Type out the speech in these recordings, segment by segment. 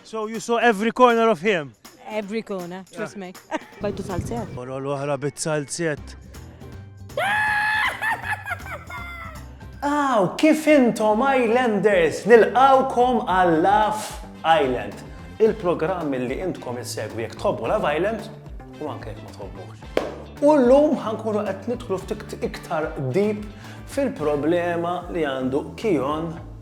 So you saw every corner of him? Every corner, trust me. Bajtu salzet. Mora l-oħra bit salzet. Aw, kif intom Islanders, nilqawkom għal Love Island. Il-programm li intkom insegwi jekk tħobbu Love Island u anke jekk ma tħobbux. U l-lum ħankunu qed nidħlu ftit iktar deep fil-problema li għandu Kion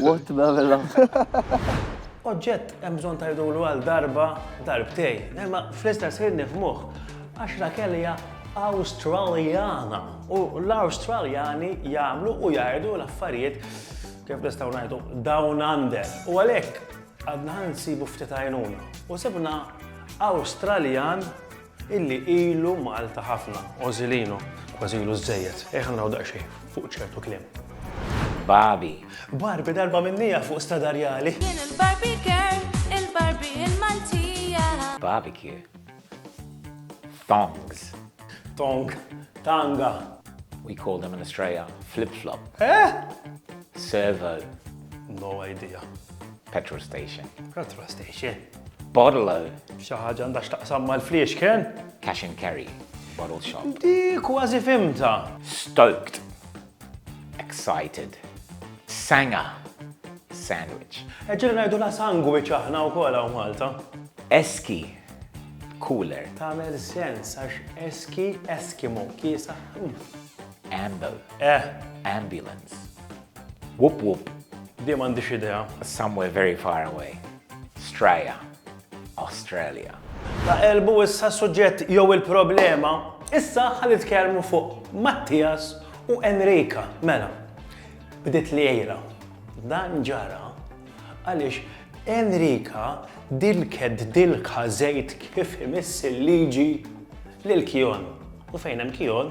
What bella. Oġġett hemm bżonn tajdulu għal darba darbtej, imma fl-istess ħin nifmuh għax Rakel hija Awstraljana u l-Awstraljani jagħmlu u jgħidu l-affarijiet kif nistgħu ngħidu down under. U għalhekk għadna nsibu ftit għajnuna u sibna Awstraljan Illi ilu Malta ħafna, Ożilino, kważi ilu żżejjed. Ejja ħa naraw daqsxejn fuq ċertu kliem. Babi. Barbi darba minnija fuq Stadarjali. Jien il-Barbie girl, il-Barbie il-Maltija. Barbecue. Thongs. Tong. Tanga. We call them in Australia flip-flop. Eh? Servo. No idea. Petrol station. Petrol station. Bottle. Xi ħaġa għandha x'taqsam mal-fliexken? Cash and carry. Bottle shop. Di kważi fimta. Stoked. Excited. Sanga. Sandwich. Eġġel ngħidu la sandwich aħna wkoll hawn Malta. Eski. Cooler. Tagħmel sens għax eski eskimo kiesa. Amble. Eh. Ambulance. Wup wup. Di m'għandix idea. Somewhere very far away. Straja. Australia. Ta' qelbu issa s-suġġett jew il-problema. Issa ħa nitkellmu fuq Mattias u Enrica. Mela, bdiet l-għira. Dan ġara għaliex Enrica dilket dilka żejt kif imiss il-liġi lil Kion. U fejn hemm Kion,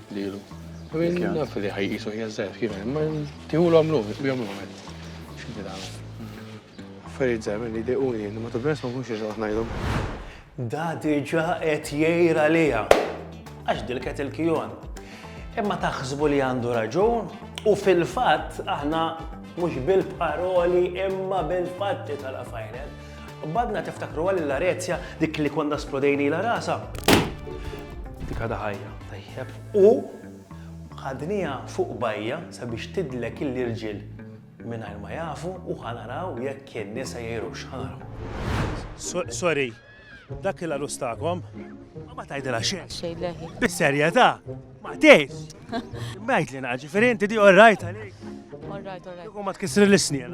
lilu. Naf li ħajqisu hija żgħir kif imma tieħulhom lum, bihom lum hekk. X'inti tagħmel? Affarijiet żgħir li dejquni li ma tibnes ma nkunx iżgħod ngħidhom. Da diġà qed jgħir għaliha għax dilket il-kijon. Imma taħsbu li għandu raġun u fil-fatt aħna mhux bil-paroli imma bil-fatti tal-afajnet. U badna tiftakru għal l-arezja dik li konna splodejni la rasa. Dik għada ħajja, tajjeb. U ħadnija fuq bajja sabiex tidlek il-irġil minn ma jafu u ħanaraw jekk kien nisa jiru xħanaw. Sorry, dak il arustakom Ma tajdela xejn. Xejn leħi. Bis-serjetà. Ma tgħidx. Bajt li naġi, ferenti di all right għalik. All right, all right. Ma tkissri l-isnien.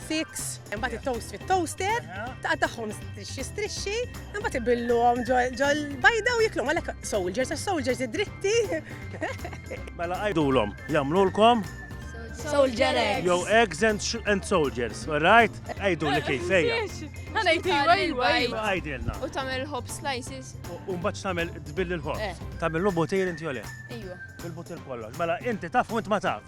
Six, imbagħad it-toast fit-toaster, taqtagħhom strixxi strixxi, imbagħad ibillhom ġol bajda u jiklhom għalhekk soldiers għax soldiers id-dritti. Mela għajdulhom, jagħmlulkom Soldier eggs. Yo eggs and, and soldiers, alright? Għajdu li kif, ejja. Għana jti, għajwa, għajwa. Għajdilna. U tamel hop slices. U mbaċ tamel dbill il-hop. Eh. Tamel l-butir inti jole. Ejwa. Il-butir kollox. Mela inti taf u int ma tafx.